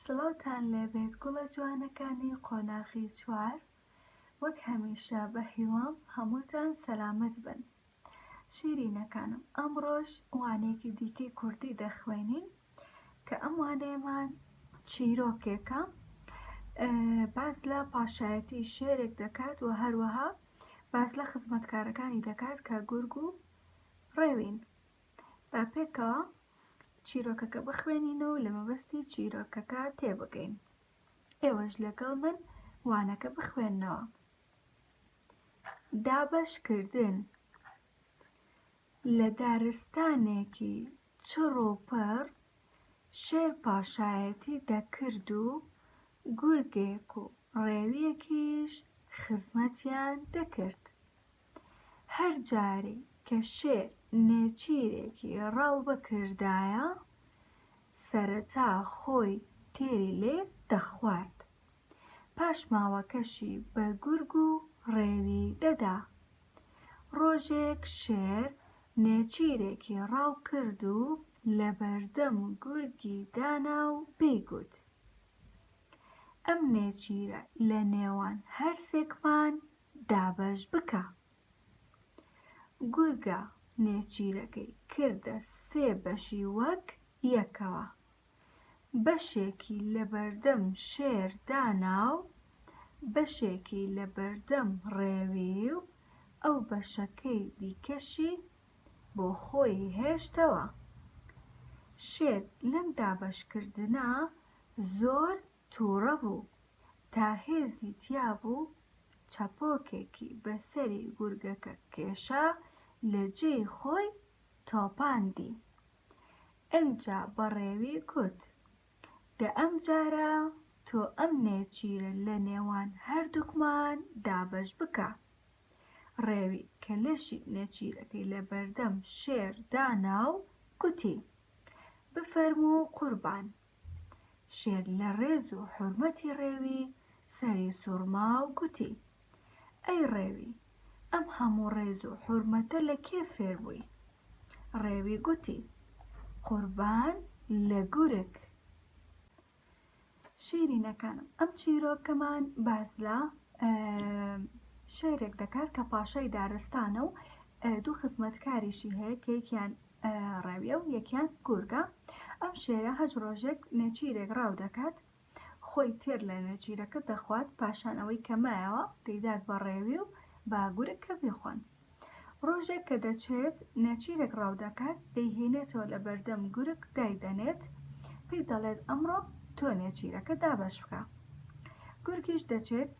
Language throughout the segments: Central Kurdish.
سڵاوتان لێبێت گوڵە جوانەکانی قۆناغی چوار وەک هەمیشە بە هیوام هەمووتان سەلامەت بن شیرینەکانم ئەمڕۆش وانەیەکی دیکەی کوردی دەخوێنین کە ئەم وانەیەمان چیرۆکێکە باس لە پاشایەتی شێرێک دەکات و هەروەها باس لە خزمەتکارەکانی دەکات کە گورگ و ڕێوین با پێکەوە چیرۆکەکە بخوێنین و لە مەبەستی چیرۆکەکە تێبگەین ئێوەش لەگەڵ من وانەکە بخوێنەوە دابەشکردن لە دارستانێکی چڕ و پڕ شێر پاشایەتی دەکرد و گورگێک و ڕێویەکیش خزمەتیان دەکرد. هەر جارێ کە شێر نێچیرێکی ڕاو بکردایە، سەرەتا خۆی تێری لێ دەخوارد، پاشماوەکەشی بە گورگ و ڕێوی دەدا. ڕۆژێک شێر نێچیرێکی ڕاو کرد و لەبەردەم گورگی دانا و پێی گوت، ئەم نێچیرە لە نێوان هەرسێکمان دابەش بکە. گورگە نێچیرەکەی کردە سێ بەشی وەک یەکەوە. بەشێکی لەبەردەم شێر دانا و بەشێکی لەبەردەم ڕێوی و ئەو بەشەکەی دیکەشی بۆ خۆی هێشتەوە شێر لەم دابەشکردنە زۆر تووڕە بوو تا هێزی تیا بوو چەپۆکێکی بەسەری گورگەکە کێشا لە جێی خۆی تۆپاندی ئنجا بەڕێوی کوت، دە ئەم جارە تۆ ئەم نێچیرە لە نێوان هەردووکمان دابەش بکە. ڕێوی کە لەشی نێچیرەکەی لە بەردەم شێر دانا و گوتی، بفەرموو قوربان، شێت لە ڕێز و حورمەتی ڕێوی سەری سوڕما و گوتی، ئەی ڕێوی، ئەم هەموو ڕێز و حورمەتە لە کێ فێر بووی؟ ڕێوی گوتی، قوربان لە گورگ. شیرینەکانم ئەم چیرۆکەمان باس لە شێرێک دەکات کە پاشای دارستانە و دوو خزمەتکاریشی هەیە کە یەکیان ڕاویە و یەکیان گورگە. ئەم شێرە هەچ ڕۆژێک نێچیرێک ڕاو دەکات، خۆی تێر لە نێچیرەکە دەخوات، پاشان ئەوەی کە مایەوە دەیدات بە ڕێوی و بە گورگ کە بیخۆن. ڕۆژێک کە دەچێت نێچیرێک ڕاو دەکات، دەیهێنێتەوە لە بەردەم گورگ دایدەنێت، پێی دەڵێت ئەمڕۆ تۆ نێچیرەکە دابەش بکە. گورگیش دەچێت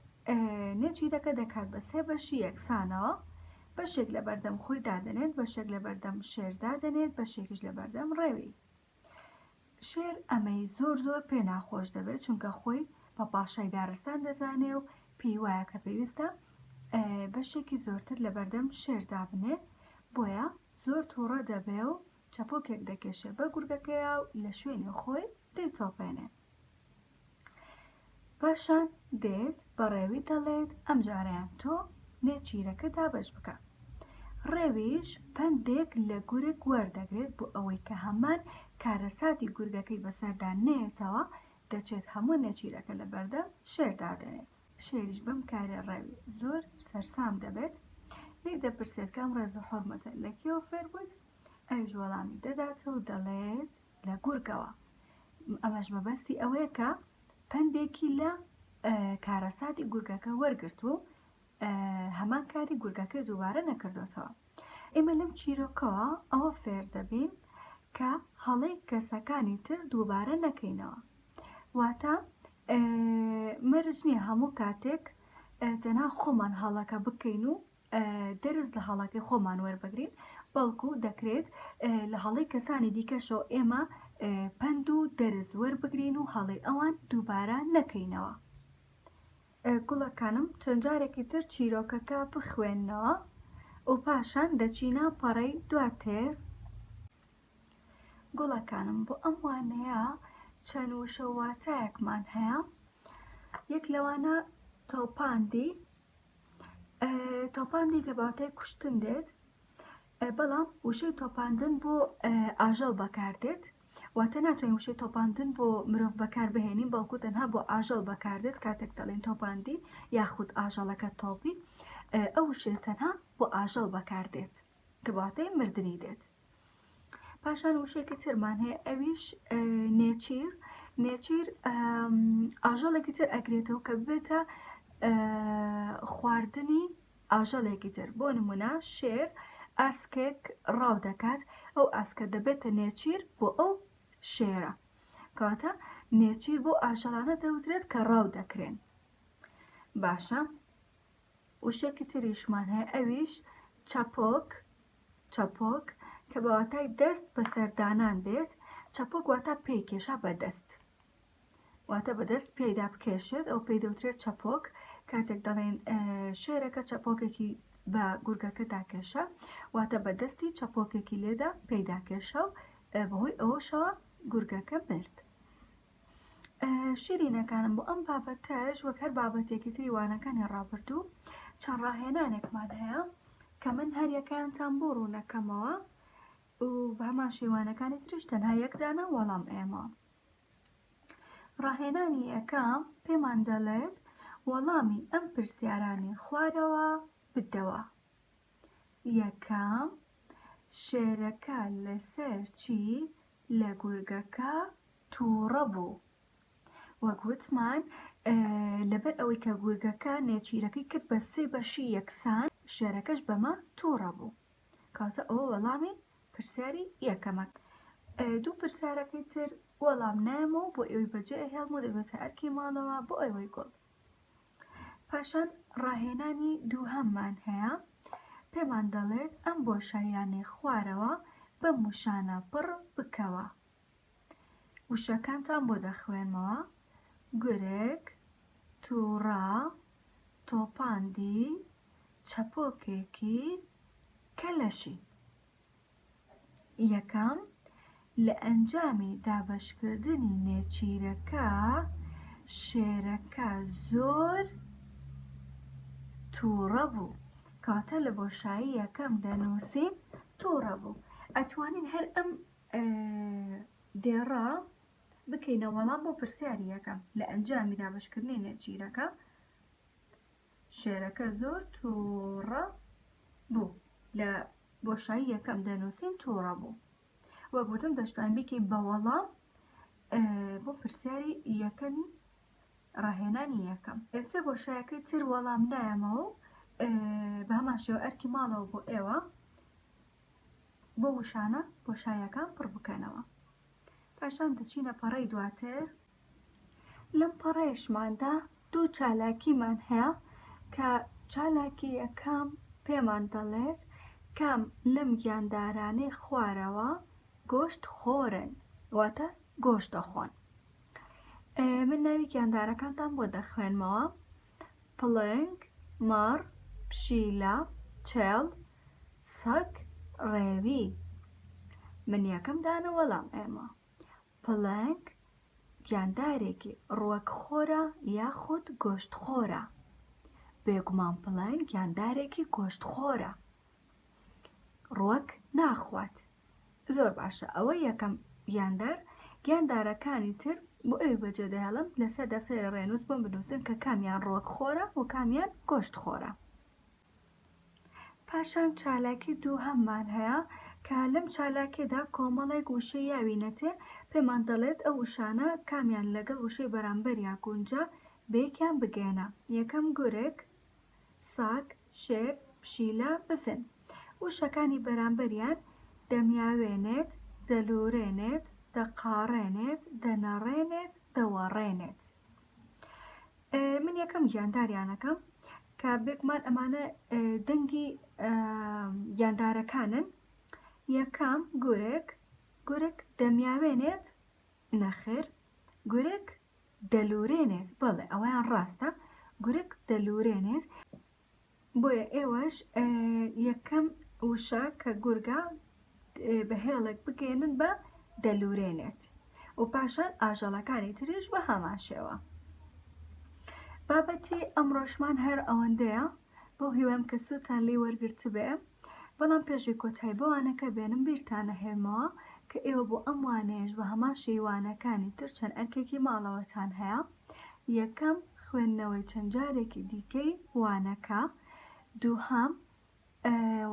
نێچیرەکە دەکات بە سێ بەشی یەکسانەوە، بەشێک لە بەردەم خۆی دادەنێت، بەشێک لە بەردەم شێر دادەنێت، بەشێکیش لە بەردەم ڕێوی. شێر ئەمەی زۆر زۆر پێ ناخۆش دەبێت، چونکە خۆی بە پاشای دارستان دەزانێ و پێی وایە کە پێویستە بەشێکی زۆرتر لە بەردەم شێر دابنێ، بۆیە زۆر تووڕە دەبێ و چەپۆکێک دەکێشێ بە گورگەکەیا و لە شوێنی خۆی دەیتۆپێنێ. پاشان دێت بە ڕێوی دەڵێت ئەمجارەیان تۆ نێچیرەکە دابەش بکە. ڕێویش پەندێک لە گورگ وەردەگرێت بۆ ئەوەی کە هەمان کارەساتی گورگەکەی بەسەردا نەیەتەوە، دەچێت هەموو نێچیرەکە لە بەردەم شێر دادەنێت. شێریش بەم کارەی ڕێوی زۆر سەرسام دەبێت، لێی دەپرسێت کە ئەم ڕێز و حورمەتە لە کێوە فێر بوویت؟ ئەویش وەڵامی دەداتەوە و دەڵێت. لە گورگەوە ئەمەش مەبەستی ئەوەیە کە پەندێکی لە کارەساتی گورگەکە وەرگرت و هەمان کاری گورگەکە دووبارە نەکردوێتەوە ئێمە لەم چیرۆکەوە ئەوە فێر دەبین کە هەڵەی کەسەکانی تر دووبارە نەکەینەوە واتە مەرج نییە هەموو کاتێک تەنها خۆمان هەڵەکە بکەین و دەرس لە هەڵەکەی خۆمان وەربگرین بەڵکو دەکرێت لە هەڵی کەسانی دیکەشەوە ئێمە پند و دەرس وەربگرین و هەڵی ئەوان دووبارە نەکەینەوە گوڵەکانم چەند جارێکی تر چیرۆکەکە بخوێندنەوە و پاشان دەچینە پەڕەی دواتر گوڵەکانم بۆ ئەم وانەیە چەند وشە واتایەکمان هەیە یەک لەوانە تۆپاندی تۆپاندی لە باتای کوشتن دێت بەڵام وشەی تۆپاندن بۆ ئاژەڵ بەکاردێت واتە ناتوانین وشەی تۆپاندن بۆ مرۆڤ بەکار بهێنین بەڵکو تەنها بۆ ئاژەڵ بەکاردێت کاتێک دەڵێن تۆپاندی یاخود ئاژەڵەکە تۆپی ئەو وشەیە تەنها بۆ ئاژەڵ بەکاردێت کە باتای مردنی دێت پاشان وشێکی ترمان هەیە ئەویش نێچیر نێچیر ئاژەڵێکی تر ئەگرێتەوە کە بێتە خواردنی ئاژەڵێکی تر بۆ نمونە شێر ئاسکێک ڕاو دەکات ئەو ئاسکە دەبێتە نێچیر بۆ ئەو شێرە کاتە نێچیر بۆ ئاژەڵانە دەوترێت کە ڕاو دەکرێن باشە وشەیەکی تریشمان هەیە ئەویش چەپۆک چەپۆک کە بە واتای دەست بەسەردانان بێت چەپۆک واتا پێی کێشا بەدەست واتە بەدەست پێدا بکێشێت ئەو پێی دەوترێت چەپۆک کاتێک دەڵێن شێرەکە چەپۆکێکی بە گورگەکە داکێشە واتە بەدەستی چەپۆکێکی لێدا پێداکێشە و بەهۆی ئەوەشەوە گورگەکە مرد شیرینەکانم بۆ ئەم بابەتەش وەک هەر بابەتێکی تری وانەکانی ڕابردوو چەند ڕاهێنانێکمان هەیە کە من هەریەکانتان بۆ ڕوونەکەمەوە و بەمان شێوانەکانی تریش تەنها یەکدانە وەڵام ئێمە ڕاهێنانی ئەەکە پێمان دەڵێت وەڵامی ئەم پرسیارانی خوارەوە بدەوە یەکەم، شێرەکە لەسەر چی لە گورگەکە تووڕە بوو؟ وەک وتمان لەبەر ئەوەی کە گورگەکە نێچیرەکەی کرد بە سێ بەشی یەکسان شێرەکەش بەمە تووڕە بوو کاتە ئەوە وەڵامی پرسیاری یەکەمە دوو پرسیارەکەی تر وەڵام نامەوە بۆ ئێوەی بەجێ هێڵم و دەبێتە ئەرکی ماڵەوە بۆ ئەوەی گوڵ پاشان ڕاهێنانی دووهەممان هەیە پێمان دەڵێت ئەم بۆشاییانەی خوارەوە بەم وشانە پڕ بکەوە وشەکانتان بۆ دەخوێنمەوە گورگ تووڕە تۆپاندی چەپۆکێکی کەلەشی یەکەم، لە ئەنجامی دابەشکردنی نێچیرەکە شێرەکە زۆر تووڕە بوو کەواتە لە بۆشایی یەکەم دەنووسین تووڕە بوو ئەتوانین هەر ئەم دێڕە بکەینە وەڵام بۆ پرسیاری یەکەم لە ئەنجامی دابەشکردنی نێچیرەکە شێرەکە زۆر تووڕە بوو لە بۆشایی یەکەم دەنووسین تووڕە بوو وەک وتم دەشتوان بیکەین بە وەڵام بۆ پرسیاری یەکەمی ڕاهێنانی یەکەم ئێستا بۆشایەکەی تر وەڵام نایەمەوە و بە هەمان شێوە ئەرکی ماڵەوە بۆ ئێوە بۆ وشانە بۆشایەکان پڕ بکەنەوە پاشان دەچینە پەڕەی دواتر لەم پەڕەیشماندا دوو چالاکیمان هەیە کە چالاکی یەکەم پێمان دەڵێت کام لەم گیاندارانەی خوارەوە گۆشت خۆرن واتە گۆشت دەخۆن من ناوی گیاندارەکانتان بۆ دەخوێنمەوە پڵنگ مەڕ پشیلە چێڵ سەگ ڕێوی من یەکەم دانە وەڵام ئێمە پڵنگ گیاندارێکی ڕوەکخۆرە یاخود گۆشتخۆرە؟ بێگومان پڵنگ گیاندارێکی گۆشتخۆرە ڕوەک ناخوات. زۆر باشە ئەوە یەکەم گیاندار گیاندارەکانی تر بۆ ئەوی بەجێ دەهێڵم لەسەر دەفتەری ڕێنووس بۆم بنووسن کە کامیان ڕوەکخۆرە و کامیان گۆشتخۆرە. پاشان چالاکی دووهەممان هەیە کە لەم چالاکیەدا کۆمەڵێک وشەی یاوینەتێ پێمان دەڵێت ئەو وشانە کامیان لەگەڵ وشەی بەرامبەریا گونجا بەیەکیان بگەیەنە یەکەم گورگ ساگ شێر پشیلە بزن وشەکانی بەرامبەریان دەمیاوێنێت دەلوورێنێت دەقاڕێنێت دەنەڕێنێت دەوەڕێنێت. من یەکەم گیانداریانەکەم کە بێگومان ئەمانە دەنگی گیاندارەکانن یەکەم گورێک گورک دەمیاوێنێت نەخێر گورک دەلورێنێت بەڵێ ئەوەیان ڕاستە گورک دەلورێنێت بۆیە ئێوەش یەکەم وشە کە گورگە بە هێڵێک بگەێنن بە دەلورێنێت و پاشان ئاژەڵەکانی تریش بە هەمان شێوە بابەتی ئەمڕۆشمان هەر ئەوەندەیە بۆ هیوام کە سووتان لی وەرگرت بێ بەڵام پێشی کۆتای بەوانەکە بێنم بیرتانە هێمەوە کە ئێوە بۆ ئەم وانەیەش بە هەمان شەیوانەکانی تر چەند ئەرکێکی ماڵەوەتان هەیە یەکەم، خوێندنەوەی چەند جارێکی دیکەی وانەکە. دووهەم،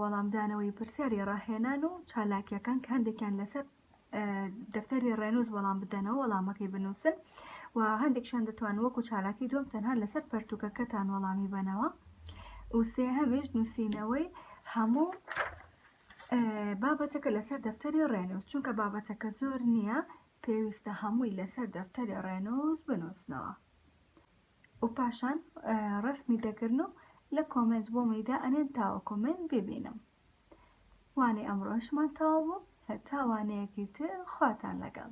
وەڵامدانەوەی پرسیاری ڕاهێنان و چالاکیەکان کە هەندێکیان لەسەر دەفتەری ڕێنووز وەڵام بدەنەوە وەڵامەکەی بنووسن و هەندێکشان دەتوان وەکو چالاکی دوم تەنها لەسەر پەرتوکەکەتان وەڵامی بەنەوە و سێهەمیش نووسینەوەی هەموو بابەتەکە لەسەر دەفتەری ڕێنووز چونکە بابەتەکە زۆر نییە پێویستە هەمووی لەسەر دەفتەری ڕێنووس بنووسنەوە و پاشان ڕسمی دەگرن و لە کۆمێنت بۆ مەیدا ئەنێن تاوەکو من ببینم وانەی ئەمڕۆشمان تەواو بوو هەتا وانەیەکی تر خواتان لەگەڵ